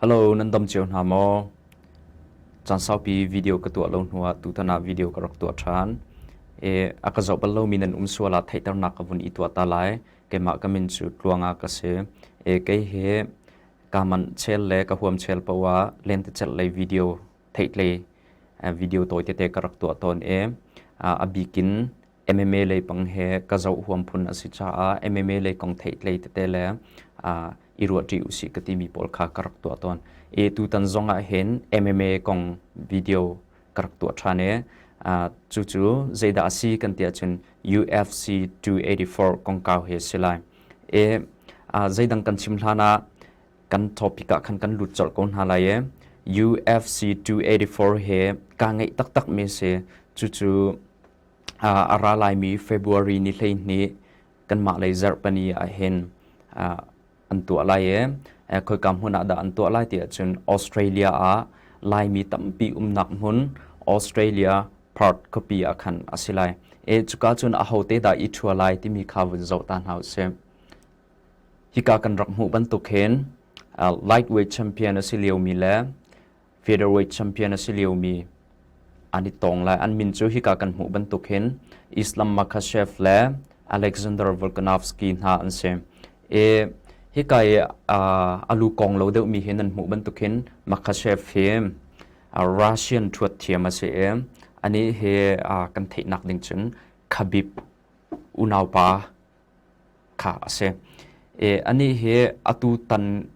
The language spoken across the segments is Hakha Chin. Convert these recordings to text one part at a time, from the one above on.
Hello, nan dom cio hna maw? Caan saupi video ka tuah lo hnuah tutan ah video ka rak tuah ṭhan. E, a ka zoh bal lomi nan um sual ah theihternak ka vun i tuah ta lai. Keimah ka min cu Tluanga ka si. E, kei he kaman chel le ka huam chel poah lente celh lei video theitlei video tawite te ka rak tuah tawn e. A bikin MMA leipang he ka zoh huam phun a si caah MMA lei kong theih tlei tete le uh, i ruahṭi usih ka timi pawl kha ka rak tuah tawn. E tutan zong ah hin MMA kong video ka rak tuah ṭhan e. Uh, cu cu zeidah a si kan tia cun UFC 284 kong kau he si lai. E uh, zeidang kan chim hlan ah kan topic ah khan kan lut colh ko hna lai e. UFC 284 he ka ngeih taktak mi se cu cu a ra laimi February ni hleihnih kanmah lei zarhpani ahhin an tuah lai i khoika hmun ah dah an tuah lai tiah cun Australia ah Laimi tampi umnak hmun Australia Perth khuapi ah khan a si lai i cuka cun ahote dah i ṭhua lai timi kha vun zoh ta hna usih. Hika kan rak hmuh bantuk hin lightweight champion a si liomi le featherweight champion a si liomi an i tong lai an min cu hika kan hmuh bantuk hin Islam Makhachev le Alexander Volkanovski hna an si e hika i a lu kong lo deuhmi hi nan hmuh bantuk hin Makhachev hi Russian thuat thiam a si e ani hi kan theihnak ding cun Khabib unaupa kha a si. Anih hi atutan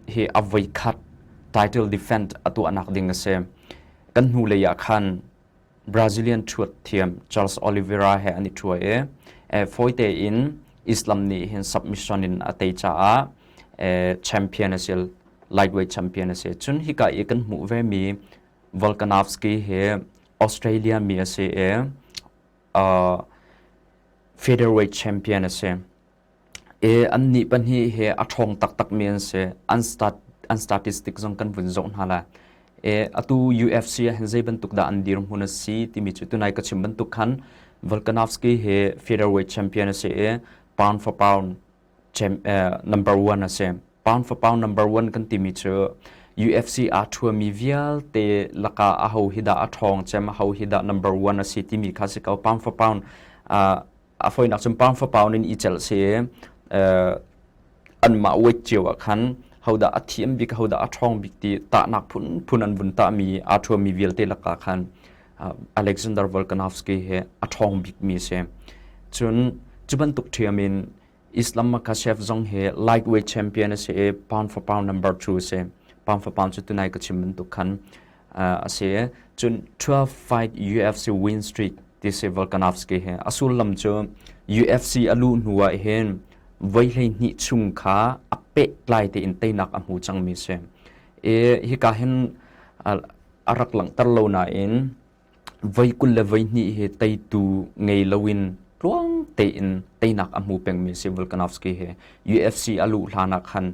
hi a voikhat title defend a tuahnak ding a si. Kan hnulei ah khan Brazilian thuat thiam Charles Oliveira he an i thuai i fawite in Islam nih hin submission in a tei caah champion a si lightweight champion a si. Cun hika i kan hmuh ve mi Volkanovski hi Australia mi a si i featherweight champion a si. I an nih pahnih hi a ṭhawng taktakmi an si. An stat an statistic zong kan vun zoh hna la. E atu UFC ah hin zei bantuk dah an dir hmun a si timi cu tunai ka chim bantuk khan Volkanovski hi featherweight champion a si i pound for pound number one a si. Pound for pound number one kan timi cu UFC aa thuami vialte laka a ho hi dah a thawng cem a ho hi dah number one a si timi kha si ko pound for pound a foinak cun pound for pound in i cel si an mah wait cio ah khan hoda a thiam bik hoda a thong bik ti tahnak phun phun an vun ta mi a thuami vialte laka khan Alexander Volkanovski hi a ṭhawng bikmi a si. Cun cu bantuk ṭhiam in Islam Makhachev zong hi lightweight champion a si i pound for pound number two a si. Pound for pound cu tunai ka chim bantuk khan a si. Cun 12 fight UFC win streak ti si Volkanovski hi a sullam cu UFC a luh hnu ah hin voi hleihnih chung kha a peh tlai tein teinak a hmu cangmi si. I hika hin a rak langhter lo nain voi kul le voi hnih hi teitu ngei loin tluang tein teinak a hmu pengmi si Volkanovski he UFC a luh hlanak khan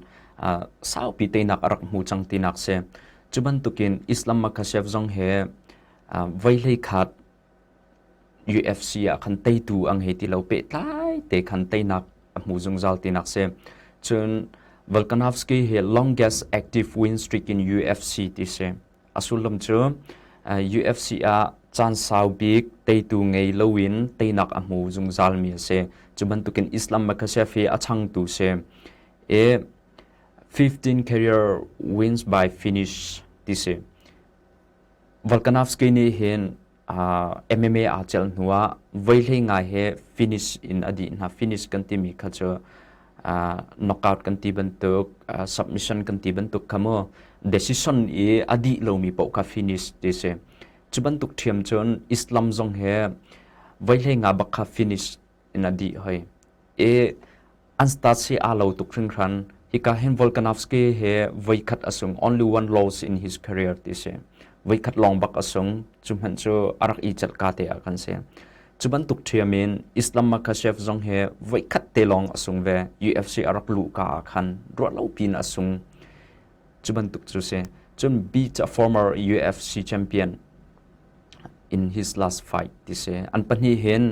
saupi teinak a rak hmu cang tinak si cu bantukin Islam Makhachev zong he voi hlei khat UFC ah khan teitu ang he ti lo pehtlai te khan teinak a hmu zungzal tinak si cun Volkanovski hi longest active win streak in UFC ti si a sullam cu UFC ah caan sau bik teitu ngei loin teinak a hmu zungzal mi a si cu bantukin Islam Makhachev hi a changtu si i 15 career wins by finish ti si Volkanovski nih hin MMA aa celh hnu ah voihlei ngai he finish in a dih hna. Finish kan timi kha cu knockout kan ti bantuk, submission kan ti bantuk kha mu decision i a dih lomi paoh kha finish ti si. Cu bantuk ṭhiam cun Islam zong he voihlei nga bak kha finish in a dih hoi. E an stacy aa lo tuk hringhran. Hika hin Volkanovski he voikhat a sung only one loss in his career ti si. Voikhat lawng bak a sung. Cu hmanh cu a rak i celh ka te a kan si. Cu bantuk ṭhiamin Islam Makhachev zong he voikhat te lawng a sung ve. UFC a rak luh ka a khan. Ruah lo pin a sung. Cu bantuk cu si. Cun Beach a former UFC champion in his last fight ti si. An pahnih hin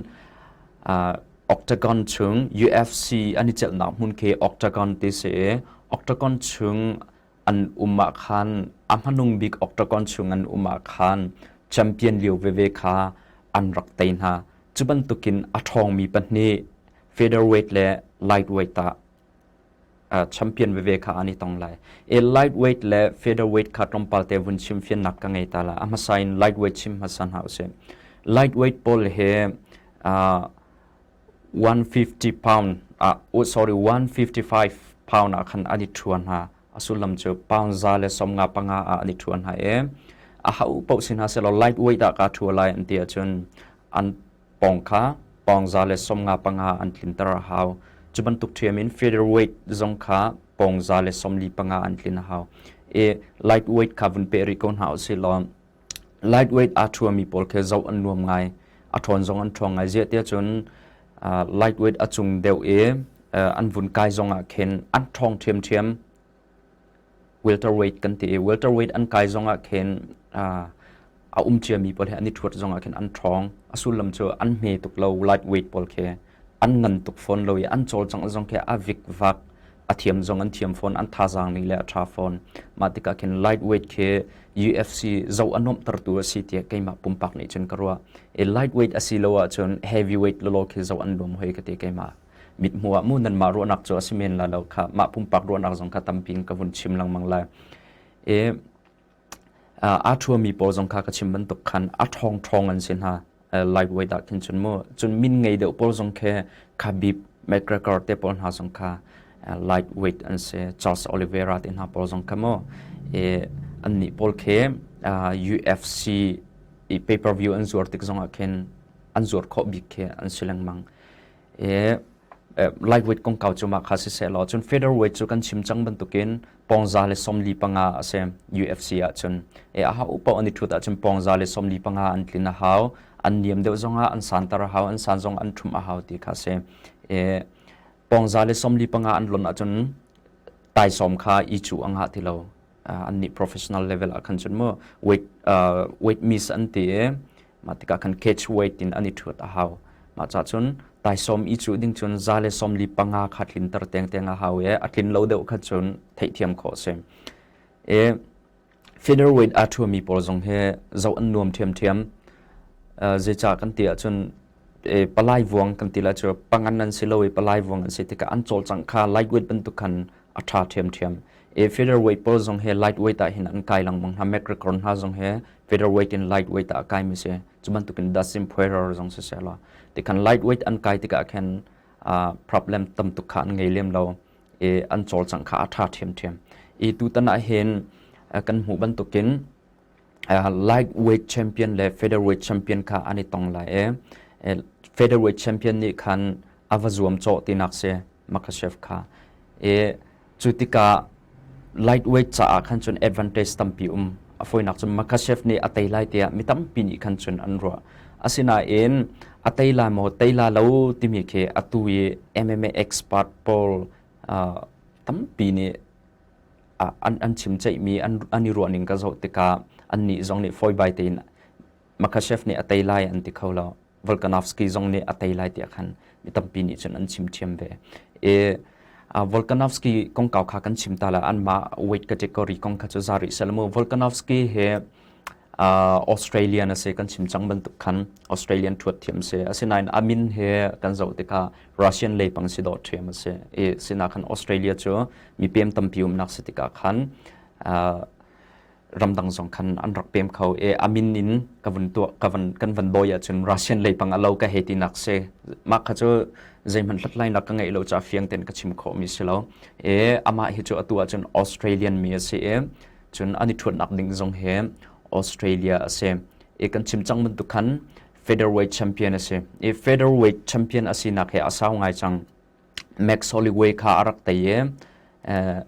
uh, octagon chung UFC an i chelhnak hmun khi octagon ti si i octagon chung an um ah khan a hmanung bik octagon chung an um ah khan champion lio veve kha an rak tei hna. Cu bantukin a ṭhawngmi pahnih featherweight le lightweight ah champion veve kha an i tong lai. E lightweight le featherweight kha tlawmpal te vun chim fiannak ka ngei ta la. A hmasa in lightweight chim hmasa hna usih. Lightweight pawl he uh, 150 pound uh, oh, sorry 155 pound ah khan an i thuan ha asulam chu pound za le somnga panga ah an i thuan ha e a hau pau sin ha selo lightweight ah ka thu lai an ti achun an pawng kha pawng za le sawmnga panga an tlinter a hau. Cu bantuk ṭhiam in feeder weight zong kha pawng za le sawmli panga an tlin a hau. E light weight kha vun pe rih ko hna u si law light weight aa ṭhuami pawl khi zoh an nuam ngai. A ṭhawn zong an ṭhawng ngai. Ziah tiah cun uh, light weight a cung deuh i uh, an vun kai zong ah khin an ṭhawng ṭhiamṭhiam welterweight kan ti i welterweight an kai zongah khin a um ciami pawl he an i ṭhuat zongah khin an ṭhawng a sullam cu an hme tuk lo lightweight pawl khi an ngan tuk fawn lo i an cawlcangh zong khi a vikvak a thiam zong an thiam fawn an thazaang li le a ṭha fawn mah tikah khin lightweight khi UFC zoh a nuamhtertu a si tiah keimah pumpak nih cun ka ruah i lightweight a si lo ahcun heavyweight lolo khi zoh an nuam hoi ka ti keimah mithmuh ah mu nanmah ruahnak cu a si men la lo kha mah pumpak ruahnak zong kha tampi in ka vun chim lengmang lai e a thuami pawl zong kha ka chim bantuk khan a thong thong an si hna live wei dah khin chun mu chun min ngei deuh pawl zong khe Khabib McGregor te pawl hna zong kha light weight an se Charles Oliveira te hna pawl zong kha mo e an ni pawl khe UFC i pay per view an zuar tik zong ah khin an zuar kho bik khe an si lengmang i lightweight kongkau cu mah kha siseh law cun featherweight cu kan chim cang bantukin pongza le sawmli panga a si UFC ah cun e a hau upa an i thut ahcun pongza le sawmli panga an tlin a hau an niam deuh zongah an santar a hau an san zong an thum a hau ti kha si e pongza le sawmli panga an lon ahcun taisawm kha i cu a ngah ti lo an nih professional level ah khan cun mu weight weight miss an ti i mah tikah khan catch weight in an i ṭhut a hau mah ca cun taisom i cu ding cun za le som li panga kha tlin ter teng teng a hau i a tlin lo deuh kha cun theihthiam khawh a si i feeder weight aa ṭhumi pawl zong hi zoh an nuam ṭhiamṭhiam zeicah kan ti ahcun eh, palai vuang kan ti la cu pangan an si lo i palai vuang an si tikah an cawlcang kha lightweight bantuk khan a tha ṭhiamṭhiam e featherweight pawl zong he lightweight ah hin an kai langmang hna macrocron hna zong he featherweight in lightweight ah kai mi si cu bantukin dasim phuerar zong si se lo ti khan lightweight an kai tikah khan problem tam tuk kha an ngei lem lo e an cawlcang kha a tha ṭhiamṭhiam e tu tanah hin kan hmuh bantukin lightweight champion le featherweight champion kha an i tong lai i featherweight champion nih khan a va zuam cawh tinak si Makhachev kha i cu tikah lightweight caah khan cun advantage tampi um a foinak cun Makhachev nih a tei lai tiah mi tampi nih khan cun an ruah asinain a tei lai maw tei la lo timi khi atu i MMA expert Paul uh, tampi nih an, an chim ceihmi an, an i ruahning ka zoh tikah annih zong nih fawi bai tein Makhachev nih a tei lai an ti kho lo Volkanovski zong nih a tei lai tiah khan mi tampi nih cun an chim thiam ve e Volkanovski kong kau kha kan chim ta la an mah weight category kong kha cu za rih sel mu Volkanovski he Australian asi kan chim cang bantuk khan Australian thuat thiam si asinain a min he kan zoh tikah Russian leipang si dawh thiam asi i sinah khan Australia cu mi pem tampi umnak si tikah khan ramdang zong khan an rak pem kho i a min in ka vun tuah ka van kan van dawi ahcun Russian leipang a lo ka he ti nak si mah kha cu zeihmanh hlathlainak ka ngeih lo ca fiang ten ka chim khawh mi si lo i amah hi cu atu ahcun Australian mi asi i Cun an i ṭhuatnak ding zong hi Australia a si. I kan chim cang bantuk khan featherweight champion a si. I featherweight champion a sinak hi a sau ngai cang. Max Holloway kha a rak tei i eh,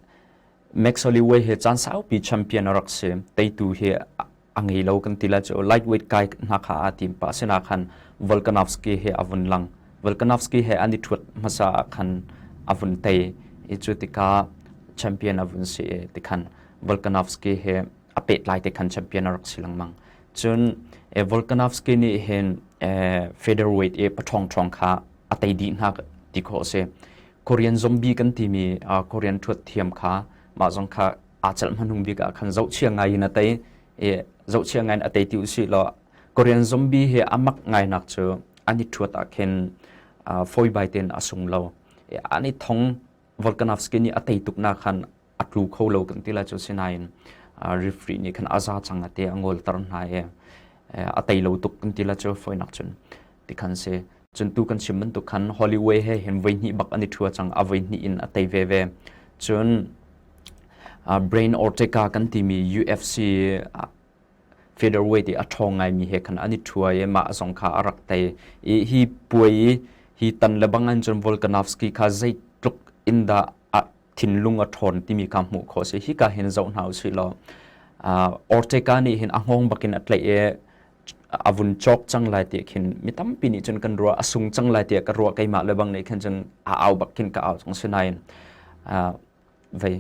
Max Holloway hi caan saupi champion a rak si. Teitu hi a ngei lo kan ti la chu lightweight kai hna kha a team pa sena khan Volkanovski he avun lang Volkanovski he ani thuat masa khan avun tai i chu tika champion avun si ti khan Volkanovski he ape lai te khan champion arak silang mang chun e Volkanovski ni hen e featherweight e pathong thong kha atai di hna ti kho se Korean zombie kan ti mi Korean thuat thiam kha ma zong kha aa celh hmanung bik ah khan zohchia ngai in a tei i zohchia ngai in a tei ti usih law Korean zombie hi a mak ngainak cu ani thuat ah khin foi bai ten a sung lo ani thong Volkanovski nih a tei tuk na khan a tlu kho lo kan ti la cu sinain referee nih khan a za chang ate a ngol tar hna e a tei lo tuk kan ti la cu foinak cun ti khan si. Cun tu kan chim bantuk khan Holiday he hin voi hnih bak an i ṭhua cang, a voi hnih in a tei veve. Cun uh, Brain Ortega kan timi UFC uh, featherweight i a ṭhawng ngaimi he khan an i ṭhua i mah zong kha a rak tei i hi puai i hi tan le bangan cun Volkanovski kha zeitluk in dah a thinlung a ṭhawn timi kha hmuh kho si hi ka hin zoh hna u sih law uh, Ortega nih hin a hngawng bakin a tlaih i a vun cawk cang lai ti khin mi tampi nih cun kan ruah a sung cang lai tiah ka ruah keimah le bang nih khin cun a au bak khin ka au cang sinain vei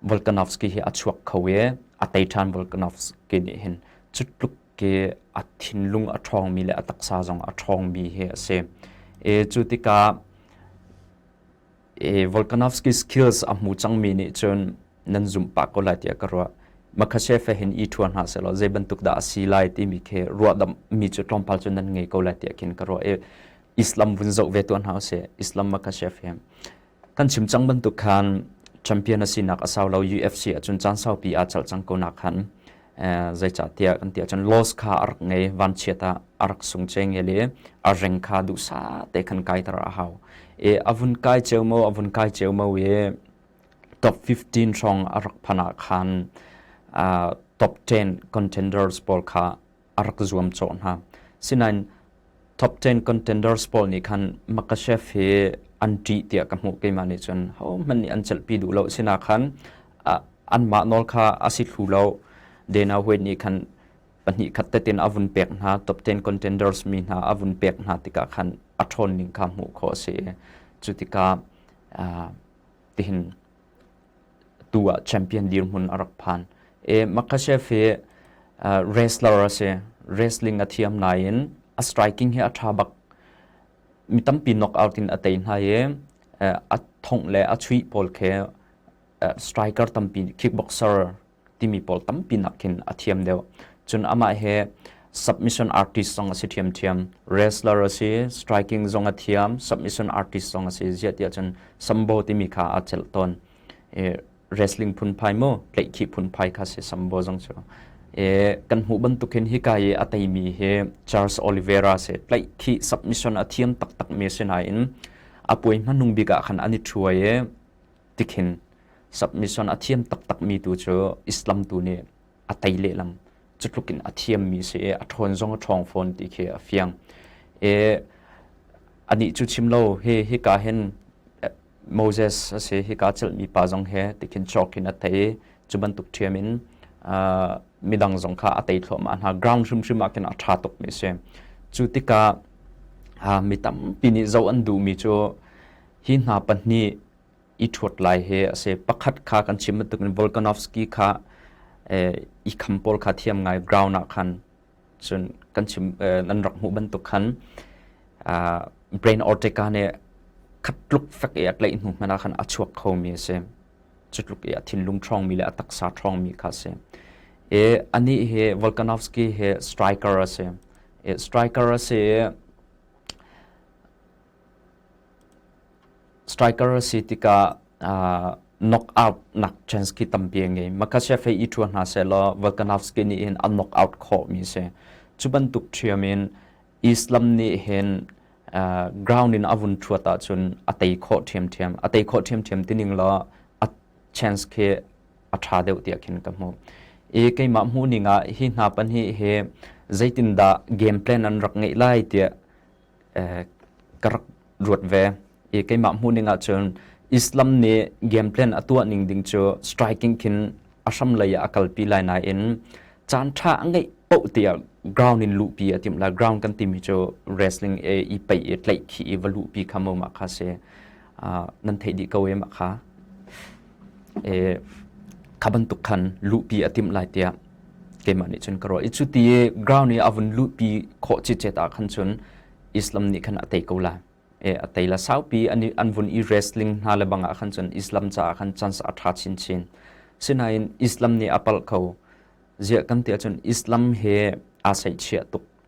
Volkanovski hi a chuak kho i a teiṭhan Volkanovski nih hin cu tluk ke a thinlung a ṭhawngmi le a taksa zong a ṭhawngmi hi a si. E cu tikah i Volkanovski skills a hmu cangmi nih cun nan zumh pah ko lai tiah ka ruah. Makhachev hin i ṭhua hna selaw zei bantuk dah a si lai timi khi ruahdamhmi cu tlawmpal cu nan ngei ko lai tiah khin ka ruah i Islam vun zoh ve tuah hna usih Islam Makhachev hi kan chim cang bantuk khan champion a sinak a sau lo UFC ahcun caan saupi aa chalh cang ko nak khan zeicahtiah kan ti ahcun laws kha a rak ngei vanchiat ah a rak sung ce nge le a reng kha duhsa te khan kaiter a hau i a vun kai ceu mo a vun kai ceu mo i top 15 hrawng a rak phan ah khan top 10 contenders pawl kha a rak zuam cawh hna sinain top 10 contenders pawl nih khan Makashev hi an ṭih tiah ka hmuh keimah nih cun hohmanh nih an celhpi duh lo sina khan anmah nawl kha a si thlu lo Dana White nih khan pahnih khat tetin a vun pek hna top 10 contenders mi hna a vun pek hna tikah khan a ṭhawn ning kha hmuh kho a si cu tikah tihin tu ah champion dirhmun a rak phan. E, Makhachev hi uh, wrestler a si. Wrestling a thiam nain a striking hi a tha bak. Mi tampi knockout in a tei hna i uh, a thongh le a chuih pawl khe uh, striker tampi kickboxer timi pawl tampi nak khin a thiam deuh. Cun amah he submission artist zong a si ṭhiamṭhiam. Wrestler a si, striking zong a thiam, submission artist zong a si. Ziah tiah cun Sambo timi kha aa celh tawn. E, wrestling phunphai mu, tleikhi phunphai kha si Sambo zong cu. E, kan hmuh bantuk hin hika i a teimi hi Charles Oliveira si, tleikhi submission a thiam taktak mi si nain a puai hmanung bik ah khan an i ṭhuai i tikhin submission a thiam taktakmi tu cu Islam tu nih a tei lehlam cutluk in a thiammi si i a ṭhawn zong a ṭhawng fawn ti khi a fiang e anih cu chim lo he hika hin Moses a si hika celhmi pa zong he tikhin chawkin a tei cu bantuk ṭhiam in midang zong kha a tei thluahmah hna ground hrimhrim ah khin a ṭha tukmi si cu tikah mi tampi nih zoh an duhmi cu hi hna pahnih i ṭhuat lai hi a si. Pakhat kha kan chim bantukin Volkanovski kha i kham pawl kha thiam ngai ground ah khan cun kan chim nan rak hmuh bantuk khan brain ortica nih khat tluk fek i a tlaih hnu hmanh ah khan a chuak khomi a si. Cutluk i a thinlung ṭhawngmi le a taksa ṭhawngmi kha a si. I anih hi Volkanovski hi striker a si. Striker a si i Striker a si tikah knockout nak chance khi tampi a ngei. Makachev he i ṭhua hna sehlaw Volkanovski nih hin a knockout khawhmi a si. Cu bantuk ṭhiam in Islam nih hin ground in a vun ṭhuat ahcun a tei khawh ṭhiamṭhiam. A tei khawh ṭhiamṭhiam tining law a chance khi a ṭha deuh tiah khin ka hmuh. I keimah hmuhning ah hi hna pahnih hi zeitindah game plan an rak ngeih lai tiah ka rak ruat ve i keimah hmuhning ahcun Islam nih game plan a tuah ning ding cu striking khin a hram lei ah a kalpi lai nain caan ṭha a ngeih poh tiah ground in luhpi a timh lai ground kan timi cu wrestling e i peih i tlaih khi i va luhpi kha mo ma kha si nan theih dih ko e ma kha e kha bantuk khan luhpi a tim lai tiah keimah nih cun ka ruah i cu ti i ground i a vun luhpi khawh cicet ah khan cun islam nih khan a tei ko la e a tei la saupi an an vun i wrestling hna le bangah khan cun islam caah khan chance a tha chin chin sinain islam nih a palh ko ziah kan tia cun islam he aa saih chia tuk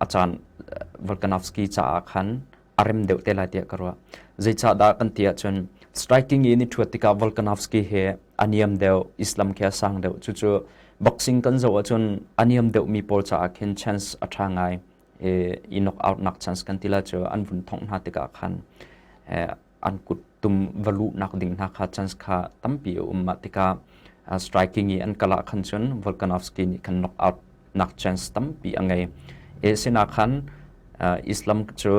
a caan Volkanovski caah khan a rem deuh te lai tiah ka ruah zeicahdah kan ti ahcun striking in i thuat tikah Volkanovski he a niam deuh Islam khi a sang deuh cucu boxing kan zoh ahcun a niam deuhmi pawl caah khin chance a tha ngai i knock out nak chance kan tila cu an vun thongh hna tikah khan an kut tum va luhnak ding hna kha chance kha tampi a um mah tikah striking i an kal ah khan cun Volkanovski nih khan knock out nak chance tampi a ngei e sina khan Islam cu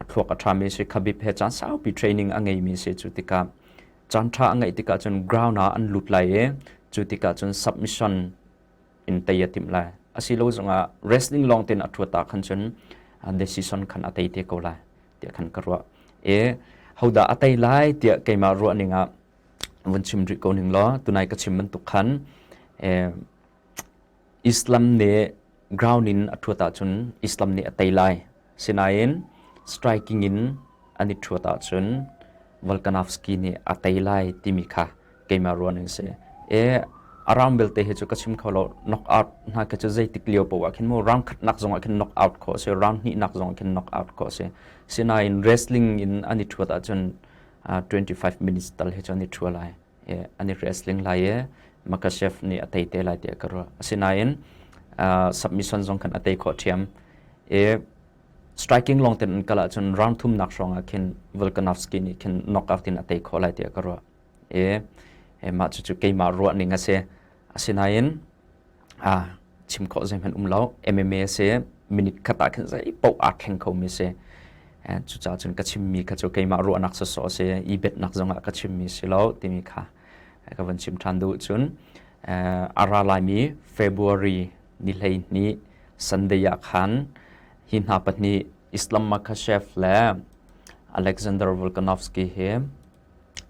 thluak a ṭhami si khabib he caan saupi training a ngeimi si cu tikah caan ṭha a ngeih tikah cun ground ah an lut lai i cu tikah cun submission in tei a timh lai asilo zongah wrestling lawng tein a ṭhuata khan cun decision khan a tei te ko lai tiah khan ka ruah e hodah a tei lai tiah keimah ruah ning ah vun chim rih ko ning law tunai ka chim bantuk khan Islam nih ground in a ṭhuata cun Islam nih a tei lai Asinain striking in an i ṭhuat ahcun Volkanovski nih a tei lai timi kha keimah ruah an si. E, a rang belte hi cu ka chim kho lo. Knockout hna khi cu zeitik lio poh ah khin mu rang khatnak zongah khin knockout khawh a si, rang hnihnak zongah khin knockout khawh a si. Asinain wrestling in an i ṭhuat ahcun uh, 25 minutes tal hi cu an i ṭhu lai. i an i wrestling lai i Makachev nih a tei te lai tiah ka ruah. Asinain uh, submission zong khan a tei khawh ṭhiam. I striking long ten an kal ahcun round thumnak hrawngah khin Volkanovski nih khin knockout in a tei khawh lai tiah ka ruah. I mah cucu keimah ruahning a si. Asinain aa chim khawh zeihmanh um lo. MMA a si. Minute khat ah khin zeipaoh aa kheng khomi a si. Eh, cucaah cun ka chimmi kha cu keimah ruahnak sawsawh a si. I betnak zongah ka chimmi si lo timi kha eh, ka van chim ṭhan duh cun eh, a ra laimi February ni hleihnih Sunday ah khan hi hna pahnih Islam Makhachev le Alexander Volkanovski hi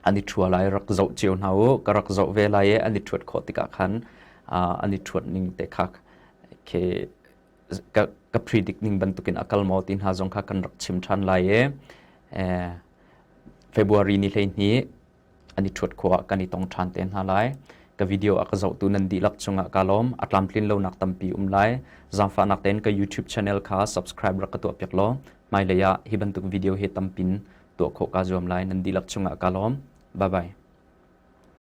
an i ṭhua lai rak zoh cio hna u ka rak zoh ve lai i an i ṭhuat khawh tikah khan an i ṭhuat ning te kha khi ka ka predict ning bantukin a kal maw ti hna zong kha kan rak chim ṭhan lai i February ni hleihnih an i ṭhuat khawh kan i tong ṭhan te hna lai ka video a ka zohtu nan dihlak cungah ka lawm a tlamtlin lonak tampi um lai zaangfahnak tein ka YouTube channel kha subscribe rak ka tuah piak law hmailei ah hi bantuk video hi tampin tuah khawh kaa zuam lai nan dihlak cungah kaa lawm. Bye bye.